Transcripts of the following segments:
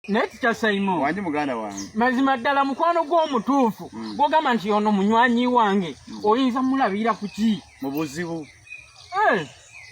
naye kitya saimo wange muganda wange mazima ddala mukwano gw'omutuufu mm. gwogamba nti ono munywanyi wange mm. oyinza mulabira ku ki mu buzibu eh.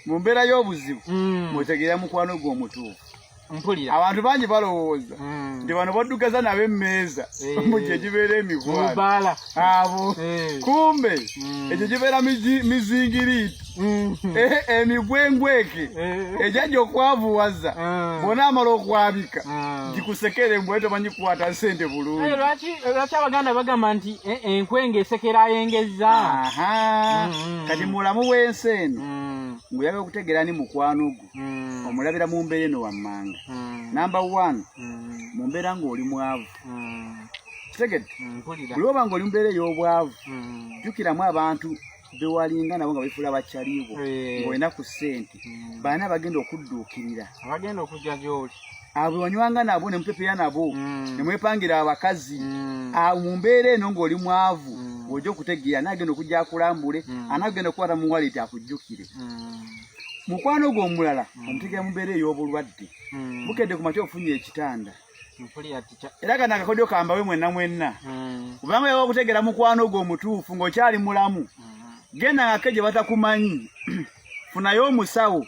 mu mbeera y'obuzibu mm. mutegeera mukwano gw'omutuufu mpulira abantu bangi balowooza nti bano baddugaza nabo emmeeza eh. mu gye gibeera emikwano abo eh. kumbe mm. ekyo kibeera mizingiriiti mm. eh, emigwengweke eh. ejajja okwavuwaza ah. bona amala okwabika ah. gikusekera embwa tomanyi kukwata sente bulungilwaki abaganda bagamba nti enkwenga esekera ayengeza mm. kati mulamu wensi eno nguyaga okutegeera ni mukwano gwo omulabira mu mbeera eno wammanga namba one mu mbeera ng'oli mwavu mm. kitegedde mm, buli oba nga oli mubeera ey'obwavu mm. jukiramu abantu bewalinga nabo nga befuula bakyaliibwo eh. ngaolina ku ssente baana abagenda okudduukirira abagenda okujja gyoli abo wanywanga nabo ne mupepera nabo ne mwepangira abakazi mu mbeera eno ng'oli mwavu ojja okutegeera anagenda okujja akulambule anagenda okukwata mu waleti akujjukire mukwano gwo omulala hmm. omutegera mubeera ey'obulwadde hmm. bukedde ku makya ofunye ekitanda era kano akakodyo kambawe mwenna mwenna hmm. kubanga yaba okutegera mukwano ogwo omutuufu ng'okyali mulamu hmm. genda ngake gye batakumanyi funayo omusawo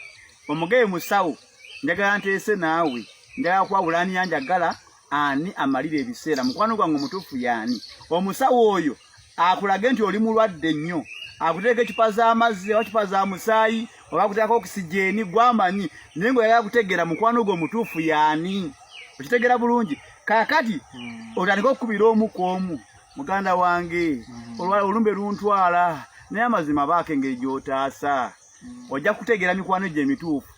omugeye musawo njagala nteese naawe njagala kwawula ani yanjagala ani amalira ebiseera mukwano gwange omutuufu yaani omusawo oyo akulage nti oli mulwadde nnyo akuteeka ecupa z'amazzi oba cupa za musaayi oba akuteekako okisijeeni gwamanyi naye nga oyagala kutegeera mukwano gwo omutuufu yaani okitegeera bulungi kakati hmm. otandika okukubira omu ku omu muganda wange hmm. olumbe luntwala naye amazima baako engeri gy'otaasa ojja kutegeera mikwano gye emituufu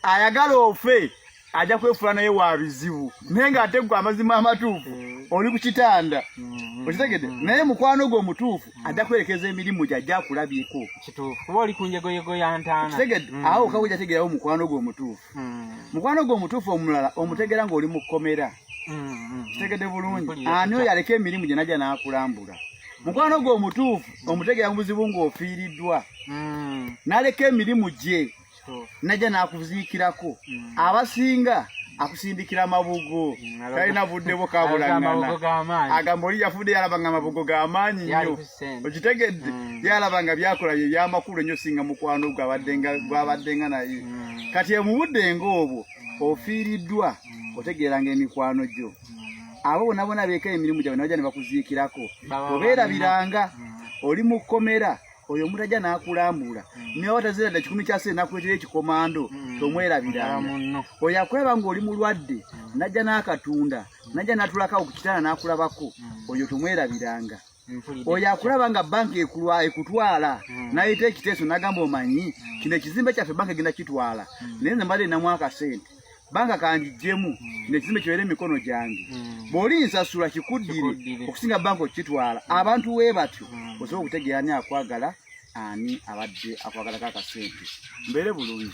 ayagala ofe ajja kwefula naye wa bizibu naye ng'ate gwe amazima amatuufu mm. oli ku kitanda mm. okitegede mm. naye mukwano gwe omutuufu ajja kwerekeza emirimu gye ajja akulabiko kuba oli ku njegoyego ya ntaana okitegede awo kawe jategeerawo mukwano gwe omutuufu mukwano gwe omutuufu omulala omutegeera ng'oli mu kkomera mm-hmm. kitegedde bulungi ani oyo aleka emirimu gye najja n'akulambula mukwano gwe omutuufu omutegera mu buzibu ng'ofiiriddwa mm. n'aleka emirimu gye najja n'akuziikirako mm. abasinga akusindikira amabugo mm, talina budde bwo kabulangana agamba oli yafudde yalaba nga amabugo ga maanyi nnyo okitegedde mm. yalaba nga byakola bye byamakulu ennyo singa mukwano gwabaddenga naye mm. kati emubudde ngaobwo ofiiriddwa otegeeranga emikwano gyo abo bona bona beeka emirimu gyabwe nabaja ne bakuziikirako obeerabiranga oli mu kkomera oyo omuntu ajja n'akulambula hmm. naye watazira dda kikumi kyase nakuletera ekikomando hmm. tomwerabiranga oyo akulaba ng'oli mulwadde hmm. najja n'akatunda najja n'atulakawo ku kitanda n'akulabako oyo tomwerabiranga oyo akulaba nga banka ekulwa ekutwala hmm. nayita ekiteeso nagamba omanyi hmm. kino ekizimbe kyaffe banka egenda kitwala hmm. naye nze mbadde namu akasente banka kanjijjemu kino ekizimbe kibeere emikono gyange bw'oli nsasula kikuddire okusinga banka okukitwala abantu we batyo osobola okutegeera ani akwagala ani abadde akwagalako akasente mbeere bulungi